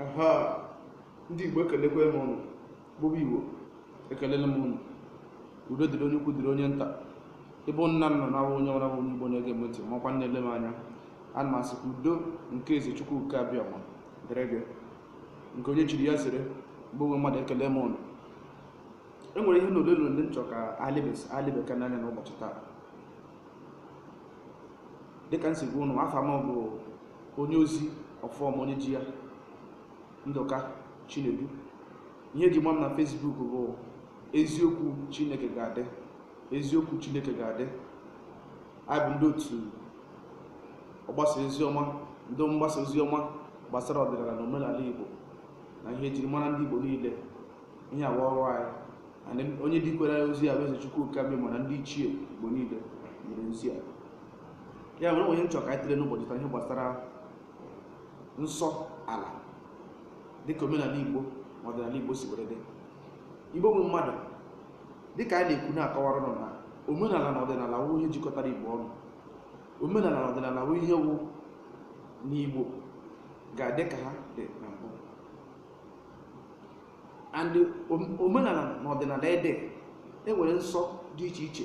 aha ndị igbo ekelekwa m ụnụ ụmụ igbo ekelele m ụnụ udo dịrị onye ukwu dịrị onye nta ịbụ nna nna na abụ onye ọbụla bụ onye igbo na-ege m ntị makwa na-ele m anya ana m asị ka udo nke eze chukwu oke abịama dịrị gị nke onye chiri ya zere igbo nwe mmadụ ekele m ụnụ e nwere ihe na ole na ole m chọrọ ka alebe- alebekwa anya n'ụbọchị taa dịka m si gwa ụnụ afa m bụ onye ozi ọfọ ma onye ji ya ndụka chinedu ihe eji ma m na facebook bụ eziokwu chineke ga-adị eziokwu chineke ga-adị anyị bụ ndị otu ọgbasa ozi ọma ndị mgbasa ozi ọma gbasara ọdịnala na omenala igbo na ihe ejiri mara ndị igbo niile ihe a wụ ọrụ anyị and onye dikwere ozi a bụ eze chukwu oke abịama na ndị ichie igbo niile nyere ozi a ya mere o nwe ihe m chọ ka anyị tụlee n'ụbọchị taa ihe gbasara nsọ ala dịka omenala igbo na ọdịnala igbo si were dị igbo nwe mmadụ dịka anyị na-ekwu na-akọwara ụnụ na omenala na ọdịnala wụ ihe jikọtara igbo ọnụ omenala na ọdịnala wụ ihe wụ na igbo ga-adị ka ha dị na mbụ and omenala na ọdịnala ede enwere nsọ dị iche iche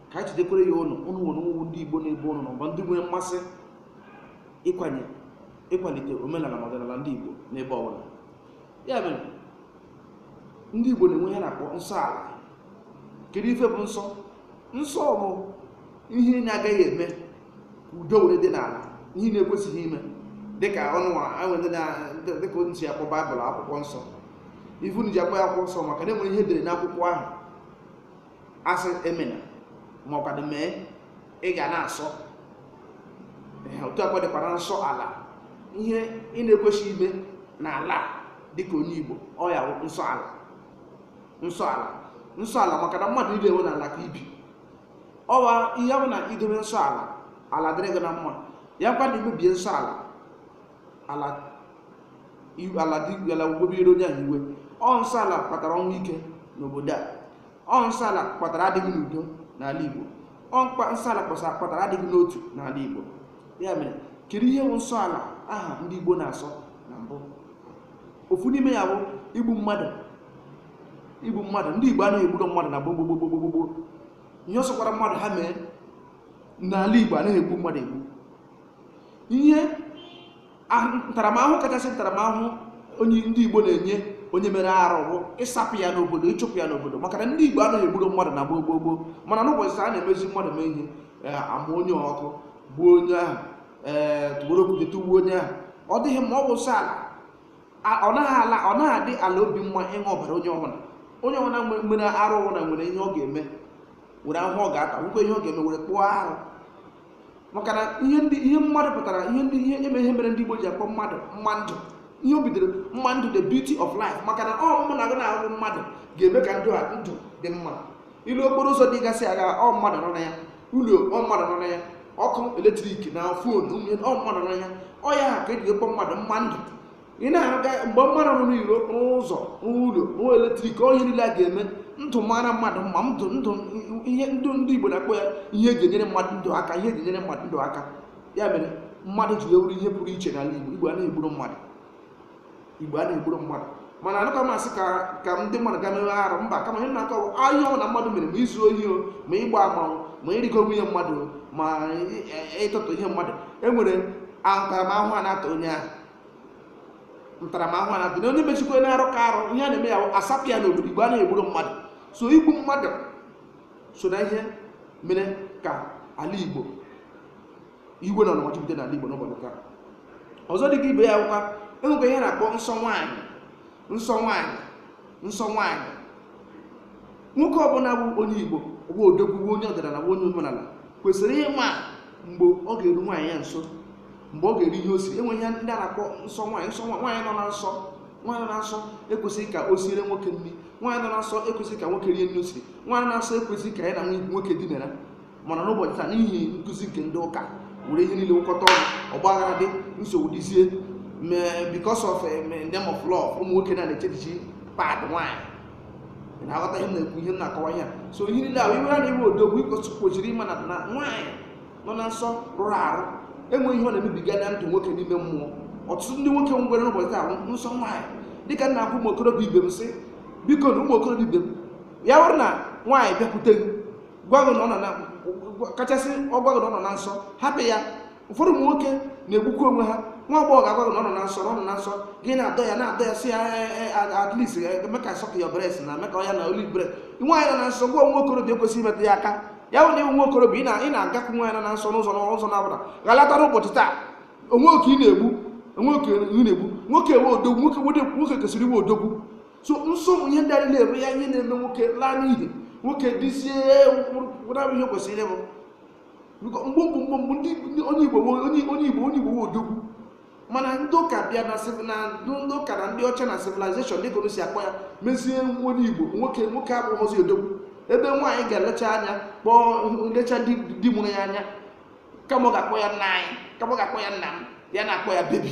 ka anyị jidekwere ya ụnụ ụnụ nwere ụmụ ndị igbo n'ebe ụnụ nọ bụ ndị nwere mmasị ịkwanye ịkwalite omenala na ọdịnala ndị igbo n'ebe ọbụla ya mere ndị igbo na-enwe ihe a na-akpọ nsọ ala kedu ife bụ nsọ nsọ bụ ihe ị na-agaghị eme ka udo were dị n'ala ihe ị na-ekwesịghị ime dịka ọnụ enwe ndị na- ndị- dịka onye si akpọ bible akwụkwọ nsọ ife eji akpọ ya akwụkwọ nsọ maka na enwere ihe edere n'akwụkwọ ahụ asị emena ma ọ kwanụ mee ị ga na-asọ Ee, otu a ka ọ dịkwara nsọ ala ihe ị na-ekwesịghị ime n'ala a, dịka onye igbo ọ ya wụ nsọ ala nsọ ala nsọ ala maka na mmadụ niile ọ wụ n'ala ka e bi ọ wụ ihe bụ na i dobe nsọ ala ala dịrị gị na mma ya kwa na i mebie nsọ ala ala iwu- ala dị ala ewebere onye ahụ iwe ọ nsọ ala kpatara ọnwụ ike n'obodo a ọ nsọ ala kpatara adịghị n'udo n'ala igbo ọ mkpa nsọ ala kpọsa- kpatara adịghị n'otu n'ala igbo ya mere kedu ihe bụ nsọ ala aha ndị igbo na-asọ na mbụ ofu n'ime ya bụ igbu mmadụ igbu mmadụ ndị igbo anaghị egburo mmadụ na gbogbogbogbogbogbo ihe ọ sọkwara mmadụ ha mee n'ala igbo anaghị egbu mmadụ egbu ihe ntaramahụhụ kachasị ntaramahụhụ ndị Igbo na-enye onye mere arụ bụ ịsapụ ya n'obodo ịchụpụ ya n'obodo maka na ndị Igbo anaghị egburu mmadụ na gboo gboo gboo mana n'ụbọchị taa a na-emezi mmadụ mee ihe eh, a mụnye ọkụ gbuo onye ahụ ee eh, tụgboro okwute tụgbuo onye ahụ ọ dịghị mma ọ bụ nsọ ala ọ naghị ala ọ naghị adị ala obi mma ịṅụ ọbara onye ọbụla onye ọbụla mere arụ ọbụla nwere ihe ọ ga-eme nwere ahụhụ ọ ga-ata nwekwa ihe ọ ga-eme were kpụọ arụ maka na ihe ndị ihe mmadụ pụtara ihe ndị ihe eme ihe mere ndị Igbo ji akpọ mmadụ mma ndụ ihe o bidoro mma ndụ the beauty of life maka na ọ mụ na gị na-ahụ mmadụ ga-eme ka ndụ a ndụ dị mma ị lee okporo ụzọ dịgasị aga ọ mmadụ na-arụ ya ụlọ ọ mmadụ na-arụ ya ọkụ eletrik na fon ọ mmadụ na-arụ ya ọ ya ha ka eji akpọ mmadụ mma ndụ ị na-arụga mgbe mmadụ rụrụ iro rụọ ụzọ rụọ ụlọ rụọ eletrik ọ ihe niile a ga-eme ndụ mara mmadụ mma ndụ ndụ ihe ndụ ndị igbo na-akpọ ya ihe eji enyere mmadụ ndụ aka ihe eji enyere mmadụ ndụ aka ya mere mmadụ ji wee wụrụ ihe pụrụ iche n'ala igbo igbo anaghị egburu mmadụ igbo anaghị egburu mmadụ mana ọ wụghị ka m sị ka ka ndị mmadụ ga mewe arụ mba kama ihe m na-akọ bụ ihe ọbụla mmadụ mere ma izu ohi o ma ịgba amanwụ ma ịrịgo nwunye mmadụ o, ma ị- ị- ịtụtụ ihe mmadụ e nwere ntaramahụhụ a na-ata onye ahụ ntaramahụhụ a na-adị na onye mechikwa na arụ ka arụ ihe a na-eme ya bụ asapụ ya n'obodo igbo anaghị egburu mmadụ so igbu mmadụ so na ihe mere ka ala igbo iwe na ọnụma jupụta n'ala igbo n'ụbọchị taa ọzọ dị ka ibe ya wụkwa enwekwa ihe a na-akpọ nsọ nwaanyị nsọ nwaanyị nsọ nwaanyị nwoke ọbụla bụ onye igbo bụ odogwu wụ onye ọdịnala bụ onye omenala kwesịrị ịma mgbe ọ ga-eru nwaanyị ya nso mgbe ọ ga-eri ihe o siri enwere ihe ndị a na-akpọ nsọ nwaanyị nsọ nwa- nwaanyị nọ na nsọ nwaanyị nọ na nsọ ekwesịghị ka o siere nwoke nri nwaanyị nọ na nsọ ekwesịghị ka nwoke rie nri o siri nwaanyị na nsọ ekwesịghị ka ya na nwoke dinara mana n'ụbọchị taa n'ihi nkụzi nke ndị ụka were ihe niile wụkọta ọnụ ọgbaghara dị nsogbu dịzie me- because of eh, me- name of love ụmụ nwoke na na-echechichi pad nwanyị ị na-aghọta ihe m na-ekwu ihe m na-akọwa ihe a so ihe niile ahụ ịwụ nwoke wụ odogwu ịkwesị kwesịrị ịma na na nwaanyị nọ na nsọ rụrụ arụ enwere ihe ọ na-emebiga na ndụ nwoke n'ime mmụọ ọtụtụ ndị nwoke nwere n'ụbọchị taa bụ nsọ nwaanyị dịka m na-agwa ụmụ okorobịa ibe m sị bikonu ụmụ okorobịa ibe m ya bụrụ na nwaanyị bịakwute gị gwa gị na ọ nọ na kachasị ọ gwa gị na ọ nọ na nsọ hapụ ya ụfọdụ ụmụ nwoke na-egbukwa onwe ha nwa agbọghọ ga-agwa gị na ọ nọ na nsọ na ọ nọ na nsọ gị na-adọ ya na-adọ ya si ya "Eh, eh, eh, at least eh, eme ka suck ya breast na eme ka ọ ya na only breast nwaanyị nọ na nsọ gị wụ nwa okorobịa ekwesịghị imetụ ya aka ya bụ na ịwụ nwa okorobịa ị na- ị na-agakwu nwaanyị nọ na nsọ n'ụzọ n'ụzọ ọbụla ghọta n'ụbọchị taa onwe gị ka ị na-egbu onwe gị ka ị na-egbu nwoke wụ odogwu nwoke wede- nwoke kwesịrị ịwụ odogwu so nsọ ihe ndị a niile bụ ya ihe na-eme nwoke laa n'iyi nwoke dịzie wụnabụ ihe kwesịrị ịbụ Biko, mgbe mgbe mgbe mgbe ndị ndị onye igbo wo- onye onye igbo onye igbo wụ odogwu mana ndị ụka bịa na civ- na ndị ụka na ndị ọcha na civilization dịka unu si akpọ ya mezie nwa onye igbo nwoke nwoke abụghịzi odogwu ebe nwaanyị ga-elecha anya kpọọ lecha di di nụrụ ya anya kama ọ ga-akpọ ya nna anyị kama ọ ga-akpọ ya nna m ya na-akpọ ya baby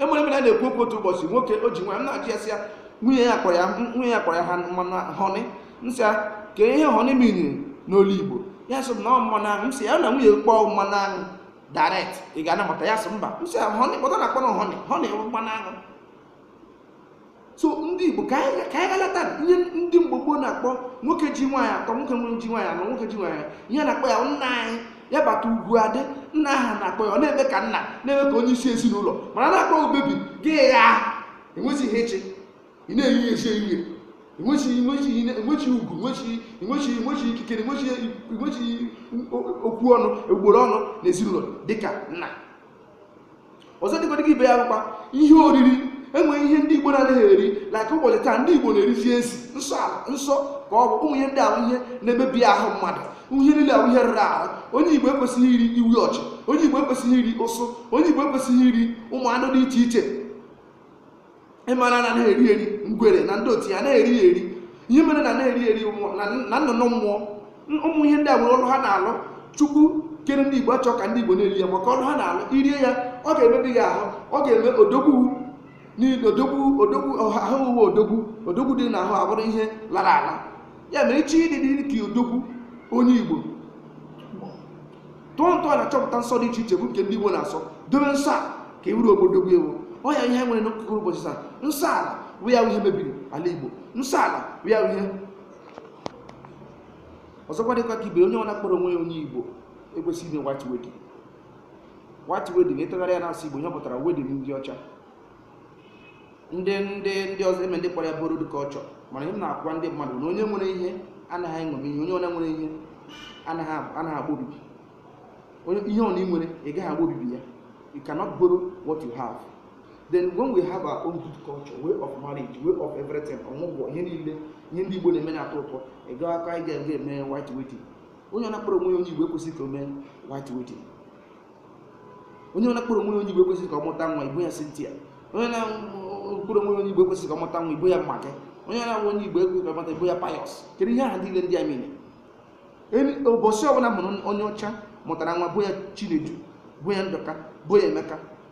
enwere ebe a na-ekwu okwu otu ụbọchị nwoke o ji nwaanyị m na-ajụ ya sị ya nwunye ya kpọrọ ya nwunye ya kpọrọ ya ha mmanụ honey m sị ya kee ihe honey miniri n'olu igbo ya sị m na ọ mmanụ aṅụ m sị ya na nwunye kpọọ mmanụ aṅụ direct ị ga-anabata ya sị mba m sị ya honey kpọta na akpọrọ honey honey bụ mmanụ aṅụ so ndị igbo ka anyị ka anyị galata ihe ndị mgbe gboo na-akpọ nwoke ji nwaanyị atọ nwoke nwere ji nwaanyị anọ nwoke ji nwaanyị anọ. ihe na-akpọ ya nna anyị ya bata ugwu adị nna a ha na-akpọ ya ọ na-eme ka nna na-eme ka onye isi ezinụlọ mana na-akpọ ya baby gị ya enweghị ihe eche ị na-eyi ya eche ihe enweghị enweghị ihe- enweghị ugwu enweghị enweghị enweghị ikikere enweghị enweghị okwu ọnụ egboro ọnụ na ezinụlọ dịka nna ọzọ dịkwa dịka ibe ya bụkwa ihe oriri enwere ihe ndị igbo na-adịghị eri like ụbọchị taa ndị igbo na-erizi ezi nsọ ala nsọ ka ọ bụ ụmụ ihe ndị a wụ ihe na-emebi ahụ mmadụ ihe niile a wụ ihe rụrụ arụ onye igbo ekwesịghị iri ewi ọchị onye igbo ekwesịghị iri ụsụ onye igbo ekwesịghị iri ụmụ anụ dị iche iche ị mara na anaghị eri eri ngwere na ndị otu ya anaghị eri ya eri ihe mere na anaghị eri eri mmụọ- na na nnụnụ mmụọ N- ụmụ ihe ndị a nwere ọrụ ha na-alụ chukwu kere ndị igbo achọ ka ndị igbo na-eri ya maka ọrụ ha na-alụ i rie ya ọ ga-emebi gị ahụ ọ ga-eme odogwu niile odogwu odogwu ọha- ahụ uwe odogwu odogwu dị n'ahụ abụrụ ihe lara ala ya mere ị chọọ ịdị dị ka odogwu onye igbo tụọ ntọ ala chọpụta nsọ dị iche iche bụ nke ndị igbo na-asọ dobe nsọ a ka ị wụrụ odogwu ị wụ ọ ya ihe m nwere n'akụkọ ụbọchị taa nsọ ala bụ ya bụ ihe mebiri ala igbo nsọ ala bụ ya bụ ihe ọzọkwa dịkwa ka ibe onye ọna kpọrọ onwe ya onye igbo ekwesịghị ime white wedding white wedding ị tụgharịa ya n'asụsụ igbo ihe ọ pụtara wedding ndị ọcha ndị ndị ndị ọzọ eme ndị kpọrọ ya borrowed culture mana ihe m na-agwa ndị mmadụ na onye nwere ihe anaghị eṅomi ihe onye ọna nwere ihe anaghị ab- anaghị agba obibi onye ihe ọna ị nwere ị gaghị agba obibi ya you cannot borrow what you have then when we have our own good culture way of marriage way of everything ọmụgwọ ihe niile ihe ndị igbo na-eme na-atọ ụtọ ị gaghị aka ị ga-eme white wedding onye ọna kpọrọ onwe ya onye igbo ekwesịghị ka o mee white wedding onye ọna kpọrọ onwe onye igbo ekwesịghị ka ọ mụta nwa kpọọ ya Cynthia onye ọna kpọrọ onwe onye igbo ekwesịghị ka ọ mụta nwa kpọọ ya Maggie onye ọna wụ onye igbo ekwesịghị ka ọ mụta kpọọ ya Pius kedu ihe aha niile ndị a mere enweghị ụbọchị ọbụla m nụrụ onye ọcha mụtara nwa kpọọ ya Chinedu kpọọ ya Ndụka kpọọ ya Emeka